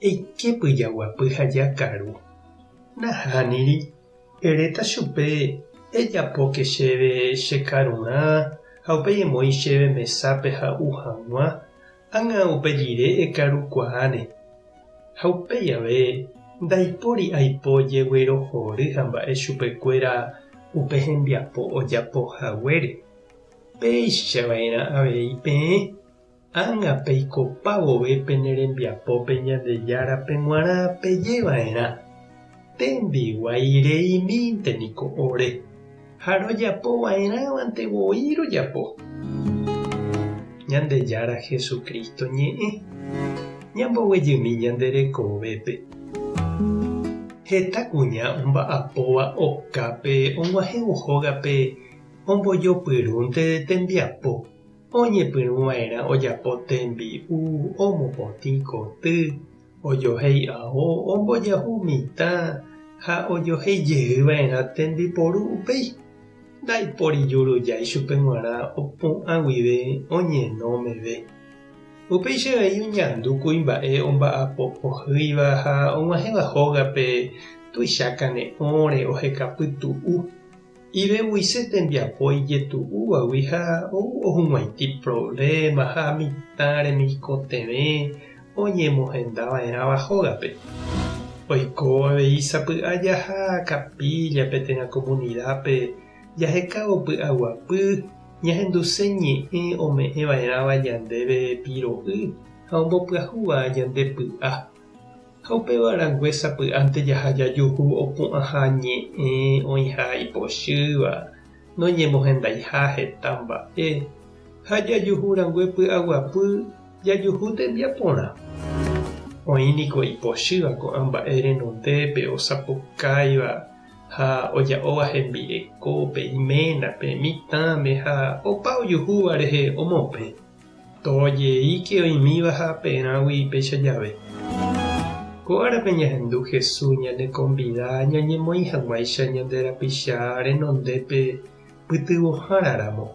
Eike pyjaguapy ha jakaru. Nahániri, eréta chupe, Ejapóke chéve che karurã ha upéi emoĩ chéve mesápe ha'u hag̃ua, ág̃a upe rire ekarukuaáne. Ha upéi ave, ndaipóri aipo jeguerohory ha mba'e chupekuéra upe hembiapo ojapo haguére. Péicha va'erã avei peẽ. Ág̃a peikopa vove pene rembiapópe Ñandejárape g̃uarã peje va'erã, Tembiguái reimínte niko ore, ha rojapo va'erãvante voi rojapo. Ñandejára Jesucristo ñe'ẽ, ñamboguejymi ñande rekovépe. Heta kuña omba'apóva okápe og̃uahẽvo hógape ombojopyrũnte tembiapo. Oñepyrũ va'erã ojapo tembi'u, omopotĩ koty, ojohéi ao, ombojahu mitã ha ojohéi jey va'erã tembiporu upéi. Ndaipóri juru jái chupe g̃uarã opu'ã guive oñeno meve. Upéicha avei oñandu kuimba'e omba'apo ohýiva ha og̃uahẽva hógape tuicha kane'õre oheka pytu'u. Iveguise tembiapo ijetu'úvagui ha ou ohug̃uaity provléma ha mitã remikotevẽ oñemohenda va'erãva hógape. Oiko avei sapy'a jaha kapíllape térã komunidápe jahekávo py'aguapy ñahenduse ñe'ẽ ome'ẽ va'erãva ñandéve piro'y ha ombopyahúva ñande py'a. Ha upéva rangue sapy'ánte jaha jajuhu opu'ãha ñe'ẽ oĩha ipochýva, noñemohendaiha heta mba'e, ha jajuhu rangue py'aguapy jajuhu tembiaporã. Oĩ niko ipochýva ko'ã mba'e renondépe osapukáiva ha oja'óva hembirekópe, iménape, mitãme ha opa ojuhúva rehe omopẽ. Tojeike oĩmíva ha perãgui péicha jave. Ko árape ñahendu Jesús ñanekonvida ñañemoĩ hag̃uáicha ñande rapicha renondépe pytyvõháraramo.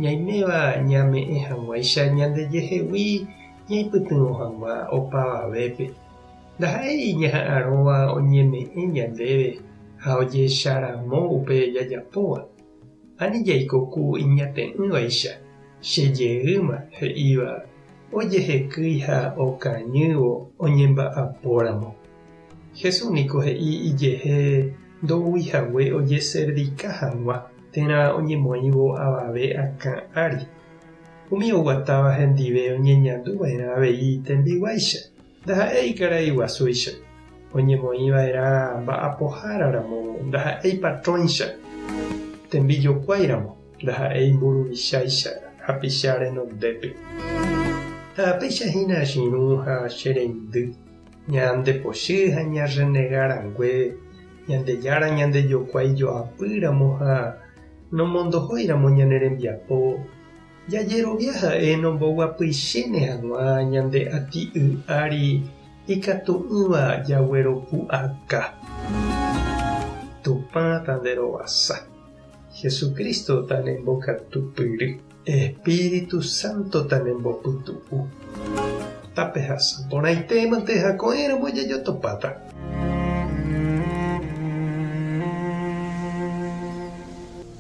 Ñaiméva ñame'ẽ hag̃uáicha ñandejehegui ñaipytyvõ hag̃ua opavavépe. Ndaha'éi ñaha'arõva oñeme'ẽ ñandéve ha ojecharamo upe jajapóva. Ani jaikoku iñate'ỹvaicha che jeýma he'íva ojehekýi ha okañývo oñemba'apóramo. Jesús niko he'i ijehe ndoúi hague ojeservika hag̃ua térã oñemoĩvo avave akã ári. Umi oguatáva hendive oñeñandu va'erã avei tembiguáicha. Ndaha'éi ikarai guasúicha, oñemoĩva'erã mba'apohára ramo ndaha'éi patróicha, tembijokuái ramo ndaha'éi mburuvicháicha hapicha renondépe. Taapéicha hína chirũ ha che reindy, ñande pochy ha ñarrenega rangue, Ñandejára ñandejokuái joapy ramo ha nomondohói ramo ñane rembiapo, Jajerovia ha'e nomboguapyichéne hag̃ua ñande ati'y ári ikatu'ỹva jagueropu'aka. Tupã tanderovasa. Jesucristo tanembokatupyry. Espíritu Santo tanembopytu'u. Tapehasa porãitémante ha ko'ẽramo jajotopáta.